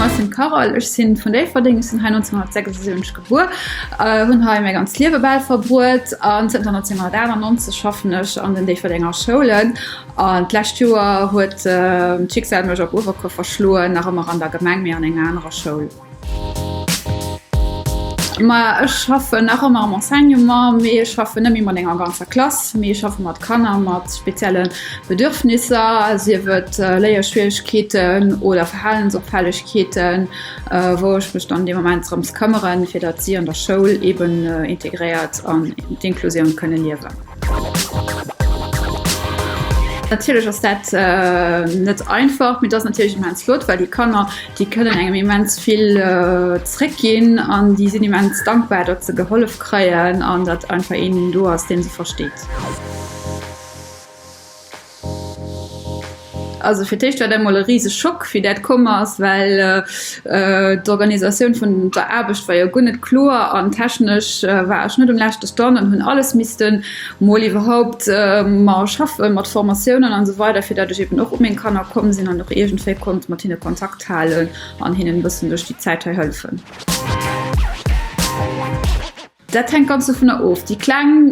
Ech sinn d'Carole, ech si vun Déifferdeng, ech sinn hei 1976 gebuer, hunn hei mäi ganzt Liewe bal verbruet an zënter 1998 schaffen ech an den Déifferdenger Schoulen. An d'lescht Joer huet d'Schicksal mech op Uewerkuer verschloen, nach ëmmer an der Gemeng, mee an enger anerer Schoul. Ma ech schaffen nach ëmmer am Enseignement, mee ech schaffen net méi mat enger ganzer Klass, mee ech schaffe mat Kanner mat spezielle Bedürfnisser, sief et Léierschwieregkeeten oder Verhalensopfällegkeeten, wou ech mech dann dee Moment drëms këmmeren, fir datt si an der Schoul eeben integréiert an d'Inklusioun kënne liewen. Natierlech ass dat net einfach, mee dass natierlech immens flott, well déi Kanner, déi kënnen engem immens vill zréck ginn an déi sinn immens dankbar, datt se gehollef kréien an datt einfach een do ass, dee se versteet. Also fir d'éischt war dat emol e riseg Schock wéi dat komm ass, well d'Organisatioun vun der Aarbecht war jo guer net kloer an technesch war ech net um leschte Stand an hunn alles missten mol iwwerhaupt mer schaffen, mat Formatiounen an esou weider, fir dat ech eben och u meng Kanner komm sinn an och iergendwéi konnt mat hinne Kontakt halen an hinnen e bëssen duerch déi Zäit hei hëllefen. Dat hänkt ganz dovunner of. Déi Kleng,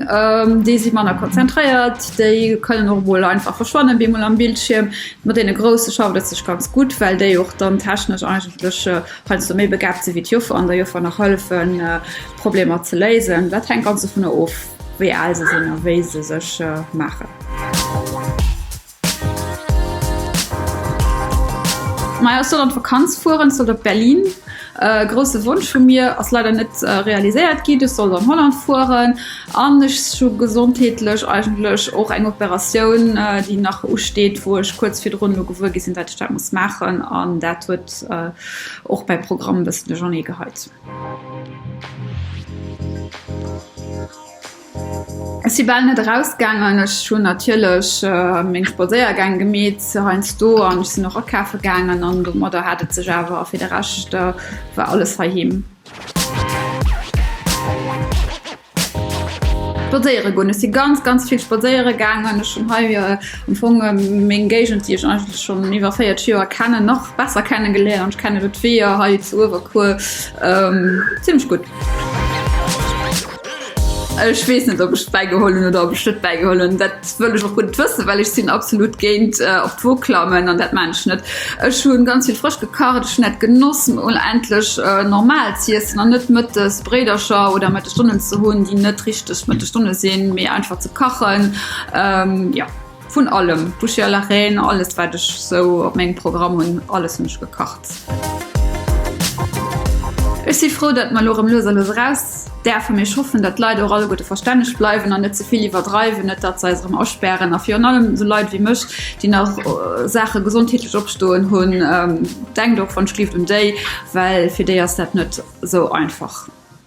déi si manner konzentréiert, déi kënnen och emol einfach verschwannen, bemol am Bildschierm. Mat deene Grousse schafft et sech ganz gutt, well déi och dann technesch eigentlech heiansdo méi begaabt sinn, wéi d'Joffer an der Joffer nach hëllefen, d'Problemer ze léisen. Dat hänkt ganz dovunner of, wéi al se sinn a wéi se sech maachen. Majo ech soll an d'Vakanz fueren, ech soll op Berlin. E grousse Wonsch vu mir ass leider net realiséiert ginn, ech sollt an Holland fueren an ech hu gesondheetlech eigentlech och eng Operatioun déi nach usteet, wou ech kuerz virdrun elo gewuer gi sinn, dat ech dat muss maachen an dat huet och mäi Programm e bëssen duerchernee geheit. Ech si bal net erausgaangen. Ech hunn natierlech meng Spadséiergäng gemeet heiansdo an ech sinn och akafe gaangen an domadder hat et sech awer. A fir de Rescht war alles heiheem. Spadséiere goen, ech si ganz, ganz vill spadséiere gaangen. Ech hunn hei am Fong meng Géigend, déi ech eigentlech schonn iwwer 40 Joer kennen, nach besser kenne geléiert. Ech kenne do d'Weeër hei zu Uewerkuer zimlech gutt. Ech weess net, ob ech et bäigeholl hunn oder ob ech et net bäigeholl hunn. Dat wëll ech och guer net wëssen, well ech sinn absolut géint op d'Woog klammen an dat maan ech net. Ech hu ganz vill frësch gekacht, ech hunn dat genoss mol endlech normal z'iessen an net mëttes Bréidercher oder Mëttesstonnen ze hunn, déi net richteg Mëttestonne sinn, mee einfach ze kachen. Jo. Vun allem, Boucher à la Reine, alles wat ech sou op mengem Programm hunn, alles hunn ech gekacht. Ech si frou, datt mer elo erëm lues a lues eraus däerfen, mee ech hoffen, datt d'Leit och alleguerte verstänneg bleiwen an net ze vill iwwerdreiwen, net datt se eis erëm aspären a virun allem esou Leit wéi mech, déi nach Saache gesondheetlech opstoen hunn, denkt och wann ech lift un déi, well fir déi ass dat net esou einfach.